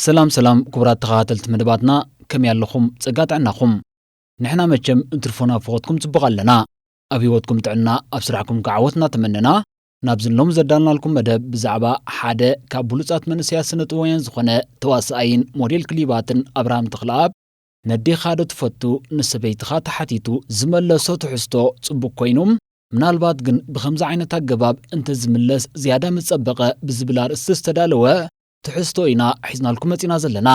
ሰላም ሰላም ኩቡራት ተኻታተልቲ መደባትና ከመይ ኣለኹም ጸጋ ጥዕናኹም ንሕና መቸም እንትርፎ ናብ ፈኾትኩም ጽቡቕ ኣለና ኣብ ሂወትኩም ጥዕና ኣብ ስራሕኩም ከኣ ዓወት እናተመነና ናብዚ ሎሚ ዘዳለናልኩም መደብ ብዛዕባ ሓደ ካብ ብሉጻት መንእሰያት ስነጥበባውያን ዝኾነ ተዋሳኣይን ሞዴል ክሊባትን ኣብርሃም ተኽለኣብ ነዴኻ ዶ ትፈቱ ንሰበይትኻ ተሓቲቱ ዝመለሶ ትሕዝቶ ጽቡቕ ኮይኑ ምናልባት ግን ብኸምዚ ዓይነት ኣገባብ እንተዝምለስ ዝያዳ ምጸበቐ ብዝብል ኣርእስቲ ዝተዳለወ ትሕዝቶ ኢና ሒዝናልኩም መጺና ዘለና።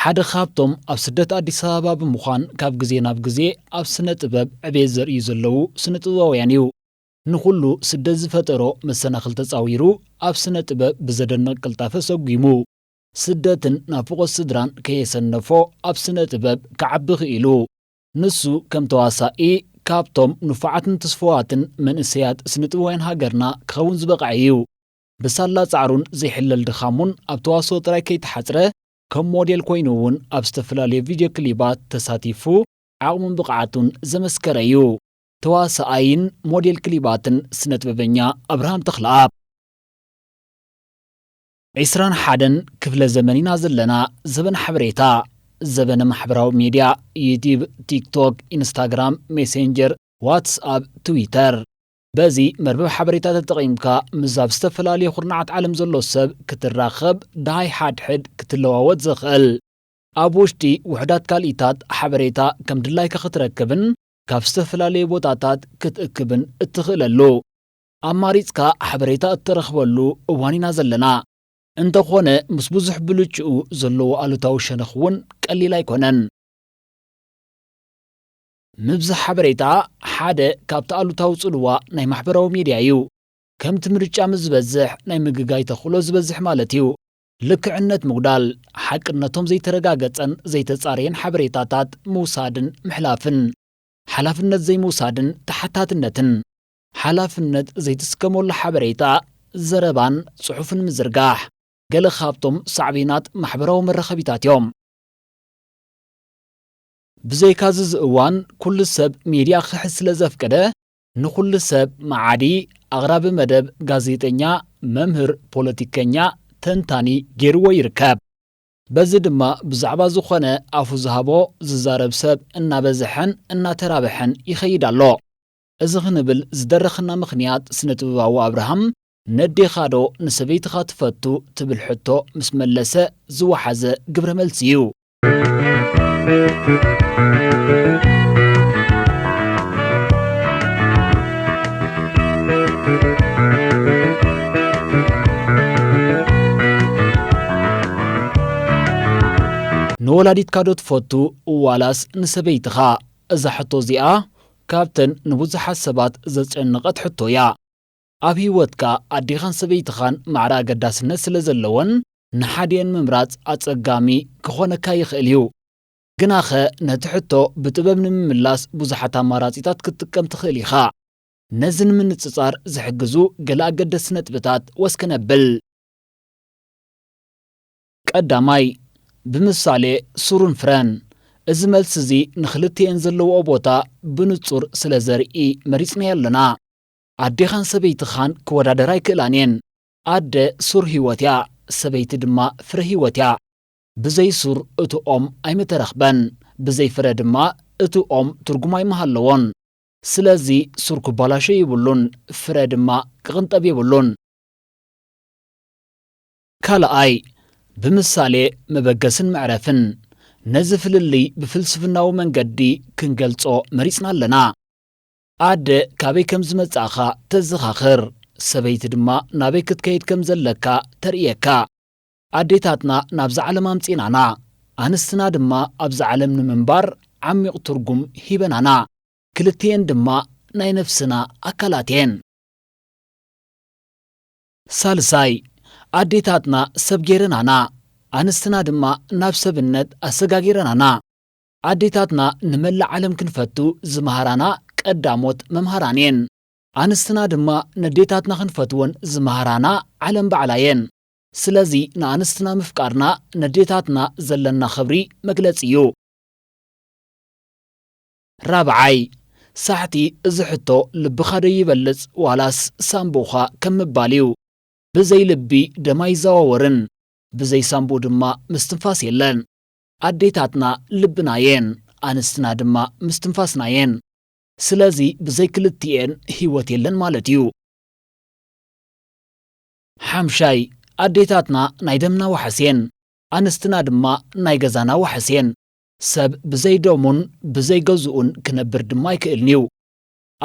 ሓደ ካብቶም ኣብ ስደት ኣዲስ ኣበባ ብምዃን ካብ ግዜ ናብ ግዜ ኣብ ስነ ጥበብ ዕቤት ዘርእዩ ዘለዉ ስነ ጥበባውያን እዩ። ንኹሉ ስደት ዝፈጠሮ መሰናኽል ተጻዊሩ ኣብ ስነ ጥበብ ብዘደንቕ ቅልጣፈ ሰጒሙ። ስደትን ናፍቖት ስድራን ከየሰነፎ ኣብ ስነ ጥበብ ክዓቢ ክኢሉ። ንሱ ከም ተዋሳኢ ካብቶም ንፉዓትን ትስፉዋትን መንእሰያት ስነጥበባውያን ሃገርና ክኸውን ዝበቕዐ እዩ። ብሳላ ጻዕሩን ዘይሕለል ድኻሙን ኣብ ተዋስኦ ጥራይ ከይተሓጽረ ከም ሞዴል ኮይኑ እውን ኣብ ዝተፈላለዩ ቪድዮ ክሊባት ተሳቲፉ ዓቕሙን ብቕዓቱን ዘመስከረ እዩ። ተዋሳኣይን ሞዴል ክሊባትን ስነጥበበኛ ኣብርሃም ተኽለኣብ። ዕስራን ሓደን ክፍለ ዘመን ኢና ዘለና ዘበን ሓበሬታ ዘበነ ማሕበራዊ ሚድያ ዩትዩብ ቲክቶክ ኢንስታግራም ሜሴንጀር ዋትስ ኣፕ ትዊተር በዚ መርበብ ሓበሬታ ተጠቒምካ ምስ ኣብ ዝተፈላለዩ ኩርናዓት ዓለም ዘሎ ሰብ ክትራኸብ ደሃይ ሓድሕድ ክትለዋወጥ ዘኽእል ኣብ ውሽጢ ውሕዳት ካልኢታት ሓበሬታ ከም ድላይካ ክትረክብን ካብ ዝተፈላለዩ ቦታታት ክትእክብን እትኽእለሉ ኣማሪጽካ ሓበሬታ እትረኽበሉ እዋን ኢና ዘለና። እንተኾነ ምስ ብዙሕ ብልጭኡ ዘለዎ ኣሉታዊ ሸነኽ እውን ቀሊል ኣይኮነን። ምብዛሕ ሓበሬታ ሓደ ካብቲ ኣሉታዊ ጽልዋ ናይ ማሕበራዊ ሚድያ እዩ። ከምቲ ምርጫ ምስ ዝበዝሕ ናይ ምግጋይ ተኽእሎ ዝበዝሕ ማለት እዩ። ልክዕነት ምጉዳል፣ ሓቅነቶም ዘይተረጋገጸን ዘይተጻረየን ሓበሬታታት ምውሳድን ምሕላፍን፣ ሓላፍነት ዘይምውሳድን ተሓታትነትን። ሓላፍነት ዘይትስከመሉ ሓበሬታ፣ ዘረባን ጽሑፍን ምዝርጋሕ ገለ ካብቶም ሳዕቤናት ማሕበራዊ መራኸቢታት እዮም። ብዘይካዚ እዚ እዋን ኩሉ ሰብ ሚድያ ክሕዝ ስለ ዘፍቀደ ንኹሉ ሰብ መዓዲ፣ ኣቕራቢ መደብ፣ ጋዜጠኛ፣ መምህር፣ ፖለቲከኛ፣ ተንታኒ ገይርዎ ይርከብ። በዚ ድማ ብዛዕባ ዝኾነ ኣፉ ዝሃቦ ዝዛረብ ሰብ እናበዝሐን እናተራብሐን ይኸይድ ኣሎ። እዚ ክንብል ዝደረኽና ምኽንያት ስነ-ጥበባዊ ኣብርሃም ነዴኻዶ ንሰበይትኻ ትፈቱ ትብል ሕቶ ምስ መለሰ ዝወሓዘ ግብረ መልሲ እዩ። ንወላዲትካዶ ትፈቱ ዋላስ ንሰበይትኻ? እዛ ሕቶ እዚኣ ካብተን ንብዙሓት ሰባት ዘጨነቐት ሕቶ እያ። ኣብ ህይወትካ ኣዴኻን ሰበይትኻን ማዕረ ኣገዳስነት ስለ ዘለወን ንሓዲኤን ምምራጽ ኣጸጋሚ ክዀነካ ይኽእል እዩ። ግናኸ ነቲ ሕቶ ብጥበብ ንምምላስ ብዙሓት ኣማራጺታት ክትጥቀም ትኽእል ኢኻ። ነዚ ንምንጽጻር ዝሕግዙ ገለ ኣገደስቲ ነጥብታት ወስ ክነብል። ቀዳማይ፣ ብምሳሌ ሱርን ፍረን። እዚ መልሲ'ዚ ንኽልቲኤን ዘለዋኦ ቦታ ብንጹር ስለ ዘርኢ መሪጽናዮ ኣሎና። ኣዴኻን ሰበይትኻን ክወዳደራ ኣይክእላን እየን። ኣደ ሱር ህይወት እያ፣ ሰበይቲ ድማ ፍረ ህይወት እያ። ብዘይ ሱር እቲ ኦም ኣይምተረኽበን፣ ብዘይ ፍረ ድማ እቲ ኦም ትርጉም ኣይምሃለዎን። ስለዚ ሱር ክባላሾ የብሉን፣ ፍረ ድማ ክቕንጠብ የብሉን። ካልኣይ፣ ብምሳሌ መበገስን መዕረፍን፣ ነዚ ፍልልይ ብፍልስፍናዊ መንገዲ ክንገልጾ መሪጽና ኣለና። ኣደ ካበይ ከም ዝመጻእኻ ተዘኻኽር፣ ሰበይቲ ድማ ናበይ ክትከይድ ከም ዘለካ ተርእየካ። ኣዴታትና ናብዛ ዓለም ኣምጺእናና፣ ኣንስትና ድማ ኣብዛ ዓለም ንምንባር ዓሚቝ ትርጕም ሂበናና። ክልቲኤን ድማ ናይ ነፍስና ኣካላት'የን። ሳልሳይ፣ ኣዴታትና ሰብ ገይረናና፣ ኣንስትና ድማ ናብ ሰብነት ኣሰጋጊረናና። ኣዴታትና ንመላእ ዓለም ክንፈቱ ዝመሃራና ቀዳሞት መምሃራን'የን። ኣንስትና ድማ ነዴታትና ክንፈትወን ዝመሃራና ዓለም ባዕላ'የን። ስለዚ ንኣንስትና ምፍቃርና ነዴታትና ዘለና ክብሪ መግለጺ'ዩ። ራብዓይ፣ ሳሕቲ እዚ ሕቶ ልብኻ ዶ ይበልጽ ዋላስ ሳንቡእኻ ከም ምባል እዩ። ብዘይ ልቢ ደም ኣይዘዋወርን፣ ብዘይ ሳንቡእ ድማ ምስትንፋስ የለን። ኣዴታትና ልብና እየን፣ ኣንስትና ድማ ምስትንፋስና እየን። ስለዚ ብዘይ ክልቲኤን ህይወት የለን ማለት እዩ። ሓምሻይ፣ ኣዴታትና ናይ ደምና ዋሕስ እየን፣ ኣንስትና ድማ ናይ ገዛና ዋሕስ እየን። ሰብ ብዘይ ደሙን ብዘይ ገዝኡን ክነብር ድማ ኣይክእልን'ዩ።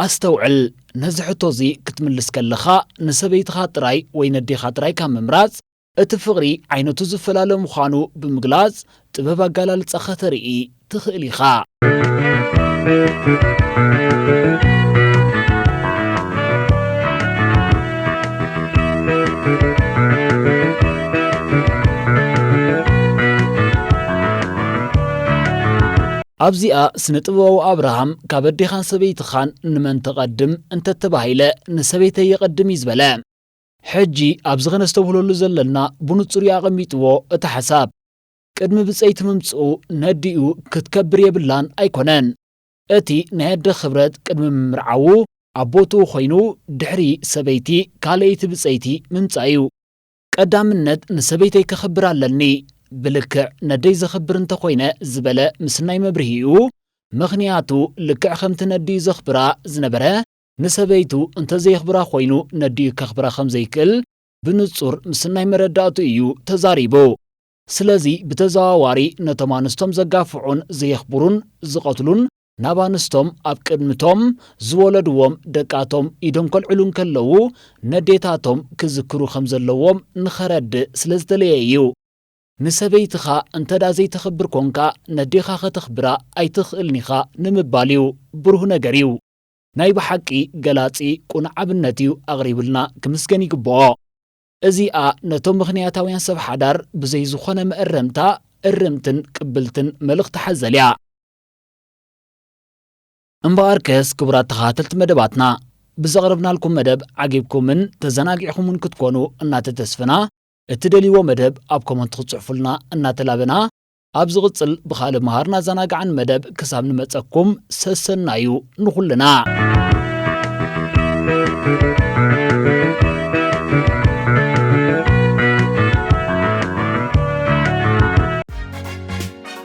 ኣስተውዕል፣ ነዚ ሕቶ'ዚ ክትምልስ ከለኻ፣ ንሰበይትኻ ጥራይ ወይ ነዴኻ ጥራይ ካብ ምምራጽ፣ እቲ ፍቕሪ ዓይነቱ ዝፈላለ ምዃኑ ብምግላጽ ጥበብ ኣገላልጻ ከተርኢ ትኽእል ኢኻ። ኣብዚኣ ስነ ጥበባዊ ኣብርሃም ካብ ኣዴኻን ሰበይትኻን ንመን ተቐድም እንተተባሂለ ንሰበይተ የቐድም እዩ ዝበለ ሕጂ ኣብዚ ከነስተብህለሉ ዘለና ብንጹር ኣቐሚጥዎ እቲ ሓሳብ ቅድሚ ብጸይቲ ምምጽኡ ነዲኡ ክትከብር የብላን ኣይኮነን እቲ ናይ ኣደ ክብረት ቅድሚ ምምርዓዉ ኣቦትኡ ኮይኑ ድሕሪ ሰበይቲ ካልኣይቲ ብጸይቲ ምምጻእ እዩ ቀዳምነት ንሰበይተይ ከኽብር ኣለኒ፣ ብልክዕ ነደይ ዘኽብር እንተኾይነ ዝበለ ምስናይ መብርሂኡ፣ ምኽንያቱ ልክዕ ከምቲ ነዲኡ ዘኽብራ ዝነበረ ንሰበይቱ እንተዘየኽብራ ኮይኑ ነዲኡ ከኽብራ ከምዘይክእል ብንጹር ምስናይ መረዳእቱ እዩ ተዛሪቡ። ስለዚ ብተዘዋዋሪ ነቶም ኣንስቶም ዘጋፍዑን ዘየኽብሩን ዝቐትሉን ናብ ኣንስቶም ኣብ ቅድሚ'ቶም ዝወለድዎም ደቃቶም ኢዶም ከልዕሉ እንከለዉ ነዴታቶም ክዝክሩ ከም ዘለዎም ንኸረድእ ስለ ዝተለየ እዩ። ንሰበይትኻ እንተድኣ ዘይተኽብር ኰንካ ነዴኻ ከተኽብራ ኣይትኽእልን ኢኻ ንምባል እዩ። ብሩህ ነገር እዩ። ናይ ብሓቂ ገላጺ ቅኑዕ ኣብነት እዩ ኣቕሪብልና ክምስገን ይግብኦ። እዚኣ ነቶም ምኽንያታውያን ሰብ ሓዳር ብዘይ ዝኾነ መእረምታ እርምትን ቅብልትን መልእኽቲ ሓዘል እያ። እምበኣርከስ ክቡራት ተኸታተልቲ መደባትና ብዘቕረብናልኩም መደብ ዓጊብኩምን ተዘናጊዕኹምን ክትኮኑ እናተተስፍና እትደልይዎ መደብ ኣብ ኮመንት ክትጽሕፉልና እናተላበና ኣብ ዝቕጽል ብኻልእ መሃርን ኣዘናጋዕን መደብ ክሳብ ንመጸኩም ሰሰናዩ ንኹልና።